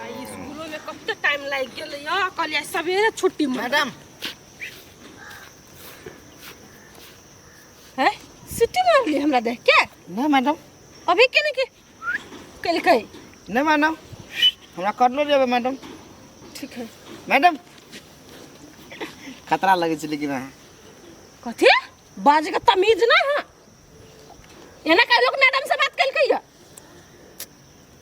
आई स्कूलो में कते टाइम लाग गेल यो कहलिए सवेरे छुट्टी में मैडम हैं सिटी मार ली हमरा देख के नहीं मैडम अभी के नहीं के कल कई नहीं मैडम हमरा कर लो जेबे मैडम ठीक है मैडम खतरा लगे छै लेकिन अहाँ कथी बाज के तमीज ना है एना कह लोग मैडम से बात कल कई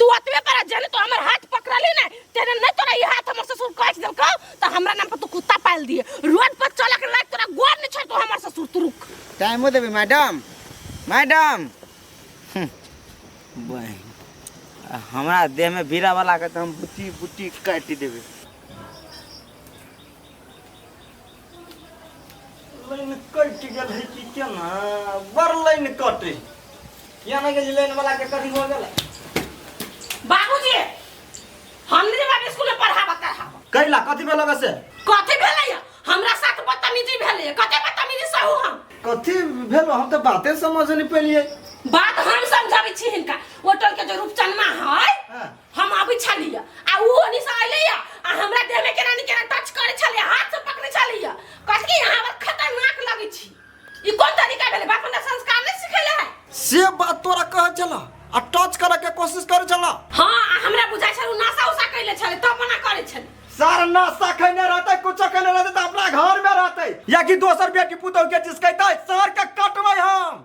तू अतबे पर जाने तो हमर हाथ पकड़ली ना तेरे नहीं तोरा ई हाथ हमर ससुर काट देलको तो हमरा नाम पर तू कुत्ता पाल दिए रोड पर चला के लाग तोरा गोर नहीं छोड़ तो हमर ससुर तू रुक टाइमो देबे मैडम मैडम हम्म, बहिन आ हमरा देह में बीरा वाला के तो हम बुटी बुटी काटि देबे लाइन कटि गेल है कि केना बड़ लाइन कटे किया नहि गेल लाइन वाला के कथी हो गेल बाबूजी हमने बाबू स्कूल में पढ़ाबा करहाबा कैला कथी भेल बे से कथी भेलै या? हमरा साथ बदतमीजी भेलै या। कते बदतमीजी सहू हम कथी भेल हम तऽ बाते समझ नहि पेलियै बात हम समझाबै छी हिनका ओटल के जो रूपचनमा है हाँ। हम अबै छलियै आ ओ ओनी से अइले या आ हमरा देह में केना नी केना टच करे छलियै हाथ से पकड़े छलियै कहत कि यहाँ पर खतरनाक लगै छी ई कोन तरीका भेलै बाप हमरा संस्कार नहीं सिखेले है से बात तोरा कहै छला आ टच करे के कोशिश करै छला हाँ आ हमरा बुझाय छल उ नशा उसा कैले छले तब मना करे छले सारा नाश्ता खैने रहते कुछो खैने रहते तो अपना घर में रहते या कि दोसर बेटी पुतौ के जिसकैते सर के कटबै हम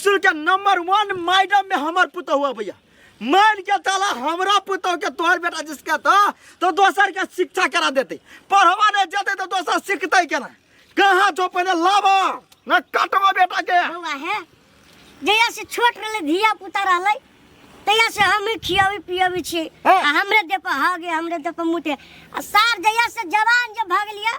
स्कूल के नंबर वन मैडम में हमर पुतहु अबैया मार के ताला हमरा पुतहु के तोहर बेटा जिसके तो तो दोसर के शिक्षा करा देते पढ़वा नहीं जेते तो दोसर सीखते केना कहाँ जो पहले लाबो न कटबो बेटा के बौआ है जहिया से छोट रहले धिया पुता रहले तहिया से हम ही खियाबी पियाबी छी हाँ। आ हमरे दे पर हगे हमरे दे पर मुते आ सार जहिया से जवान जब भग लिया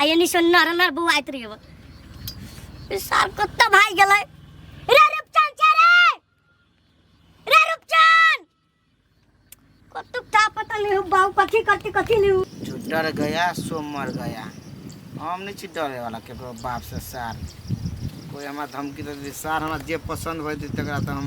आ यानी से नर नर बुआइत रहियो ई सार कत्ता भाई गेलै रे रूपचन छै रे रे रूपचन कत्तू का पता नहीं हो बाऊ कथी करती कथी नहीं हो जो डर गया सो मर गया हम नहीं छी डरे वाला केकरो बाप से सार कोई हमरा धमकी दे दे सार हमरा जे पसंद होय तकरा तऽ हम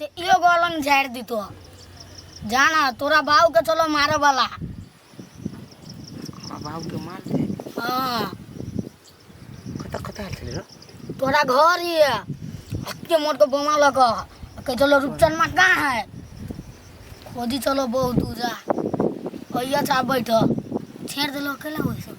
ते यो गोलंग झाड़ दी तो जाना तोरा बाव के चलो मारे वाला हमरा बाव के मार दे हां कता कता हाल चले तोरा घर ही है अक्के मोट को बोमा लगा के चलो रुपचन मा का है खोदी चलो बहुत दूर जा भैया चा बैठो छेड़ दे लो अकेला होई सब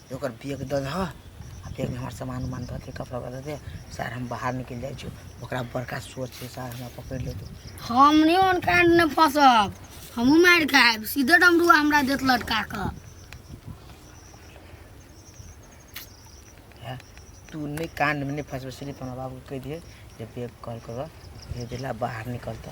ओकर बैग दऽ दहऽ आ बैगमे हमर सामान उमान धऽ दे कपड़ा दऽ दे सर हम बाहर निकलि जाइ छी ओकरा बड़का सोच छै सर हमरा पकड़ि लेतै हम नहीं उन कांड में फंसब हमहू मार खाएब सीधे डमरुआ हमरा देत लटका कऽ है तू नहीं कांड में नहीं फंसबे सिर्फ हमरा बाबू के कह दिए जे बैग कॉल कर भेजेला बाहर निकलता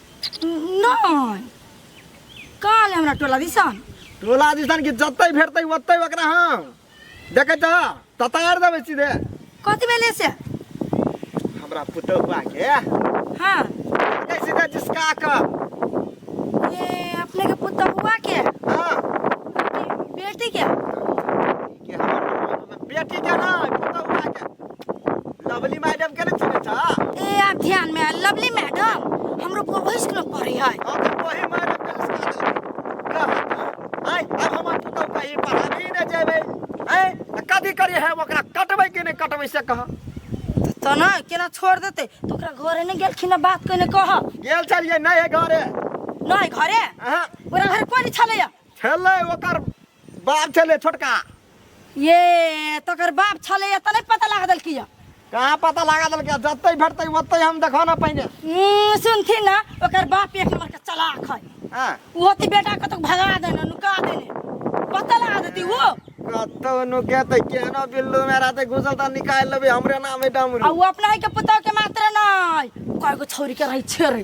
नहि कहाँ ले हमरा टोला दिसन टोला दिसन कि जतै भेटतै ओतै ओकरा हम देखै छ ततार देबै सीधे कति बेले से हमरा पुतहुआ के हाँ के सीधे जिसका क ए अपने के पुतहुआ के हां बेटी के के हम बेटी के ना पुतौ उठा के लवली मैडम के ना चुने था ए आ ध्यान में आ, लवली मैडम हमरो को वही स्कूल में पढ़ी है अब तो वही मैडम के सिखा दे कहत आई अब हम पुतौ कहीं पढ़ाबी न जेबे हैं त कथी करी है ओकरा कटबै कि नहीं कटबै से कह तो, तो ना केना छोड़ देते तो ओकरा घरे नहीं गेलखिन आ बात कने कह गेल छलिए नहीं है घरे नहीं घरे अहाँ ओकरा घर कोई नहीं छलैया छलै ओकर बाप छलै छोटका ये तकर बाप छलै एतऽ नहि पता लगा देलकी यऽ कहाँ पता लगा देलकै जतै भेटतै ओतै हम देखो ना पहिने हम्म, सुनथिन ना ओकर बाप एक नंबर के चलाक है हाँ वो ती बेटा को तो भगा देने नुका देने पता लगा देती वो कतौ नुके तऽ केहनो बिल्लू मे रहतै घुसल तऽ निकालि लेबै हमरे नाम है डमरू आ वो अपना ही के पुतौ के मात्र नहीं कय गो छौरी के रही छेरे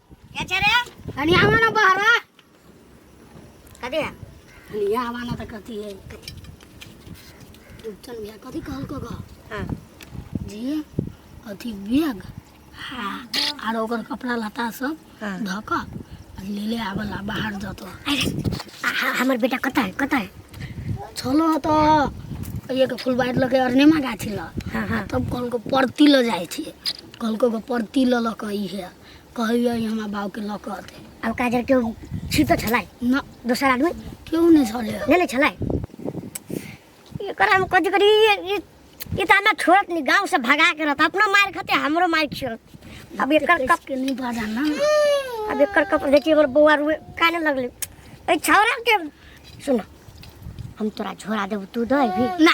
अच्छा रे हनी आवा ना बहरा कथी है हनी आवा ना त कथी है चल भैया कथी कहल को गा हाँ जे अथी बैग हाँ आर ओकर कपड़ा लता सब हाँ। धक ले ले आवला बाहर जतो अरे आ- आ- हमर बेटा कता है कता है छलो त एक फुलबारी लगे अरनेमा गाछी ल हाँ हाँ तब कहलको परती ल जाइ छी कहलको परती ल लक ई है कहैया ई हमरा बाबूके लऽ कऽ अतै अब काजर के छिप तो छलै न दोसर आदमी केओ नहि छलै ले ले छलै एकर हम कथी करी ये- ये- ये तो हमरा छोड़त नहीं गांव से भगा के रहता अपनो मार खाते हमरो मार खियत अब एकर कप के नहि बाजा ना अब एकर कप देखिए हमर बौआ रुए काने लगले ए छौरा के सुन हम तोरा झोरा देब तू दे भी ना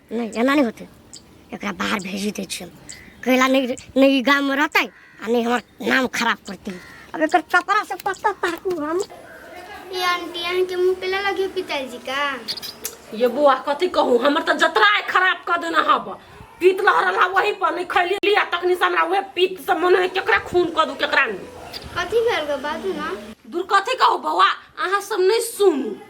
नहि एना नहि होतै एकरा बाहर भेज दै छियै कैला नहि नहि ई गाममे रहतै आ नहि हमर नाम खराब करतै अब एकर कपड़ा से पत्ता ताकू हम ये आंटी अहाँ के मुंह पे लगा के पिताजी का ये बुआ कथी कहू हमर तऽ जतरा आइ खराब कऽ देने हब पीत लहरल हा वही पर नहि खैली आ तखनी से हमरा उहे पीत से मन है केकरा खून कऽ दू केकरा नहि कथी भेल ग बाजू ना दूर कथी कहू बौआ अहाँ सब नहि सुनू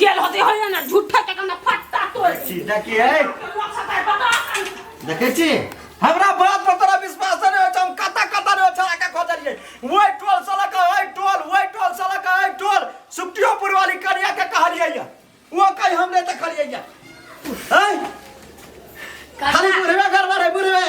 गेल होते होइए ने झूठे के कने फट्टा तोड़ छी देखी है देखै छी हमरा बात पर तोरा विश्वास नै होय छै हम कता कता नै छला के खोजलिए ओइ टोल से लक ओइ टोल ओइ टोल से लक ओइ टोल सुप्तियोपुर वाली करिया के कहलिए या वो कहि हम नै देखलिए या हैं खाली बुढ़वे घर में रहे बुढ़वे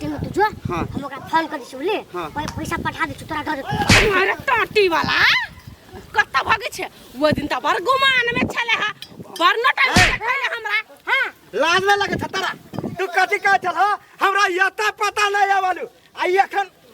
तीन तू जो हाँ। हम ओकरा फोन कर दिसु ले हाँ। ओए पैसा पठा दिसु तोरा घर अरे टट्टी वाला कत्ता भागे छे वो दिन त बर गुमान में छले हा बर न टाइम ए। खले हमरा हां लाज में लगे छतरा तू कथी कहे छल हो हमरा यता पता नहीं आवलू आ एखन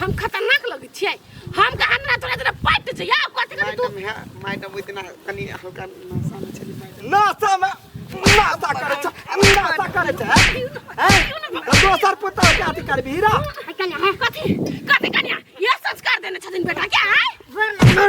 हम खतरनाक लगै छियै हम कहा हमरा तोरा तोरा पट जइया कथि कर तू मैडम है मैडम इतना कनी हल्का नशा में चली मैडम नासा में नासा करे छ नासा करे छ हैं तो दोसर पुता के अथी करबी हीरा कन्या कथि कथि कन्या ये संस्कार देने छथिन बेटा क्या है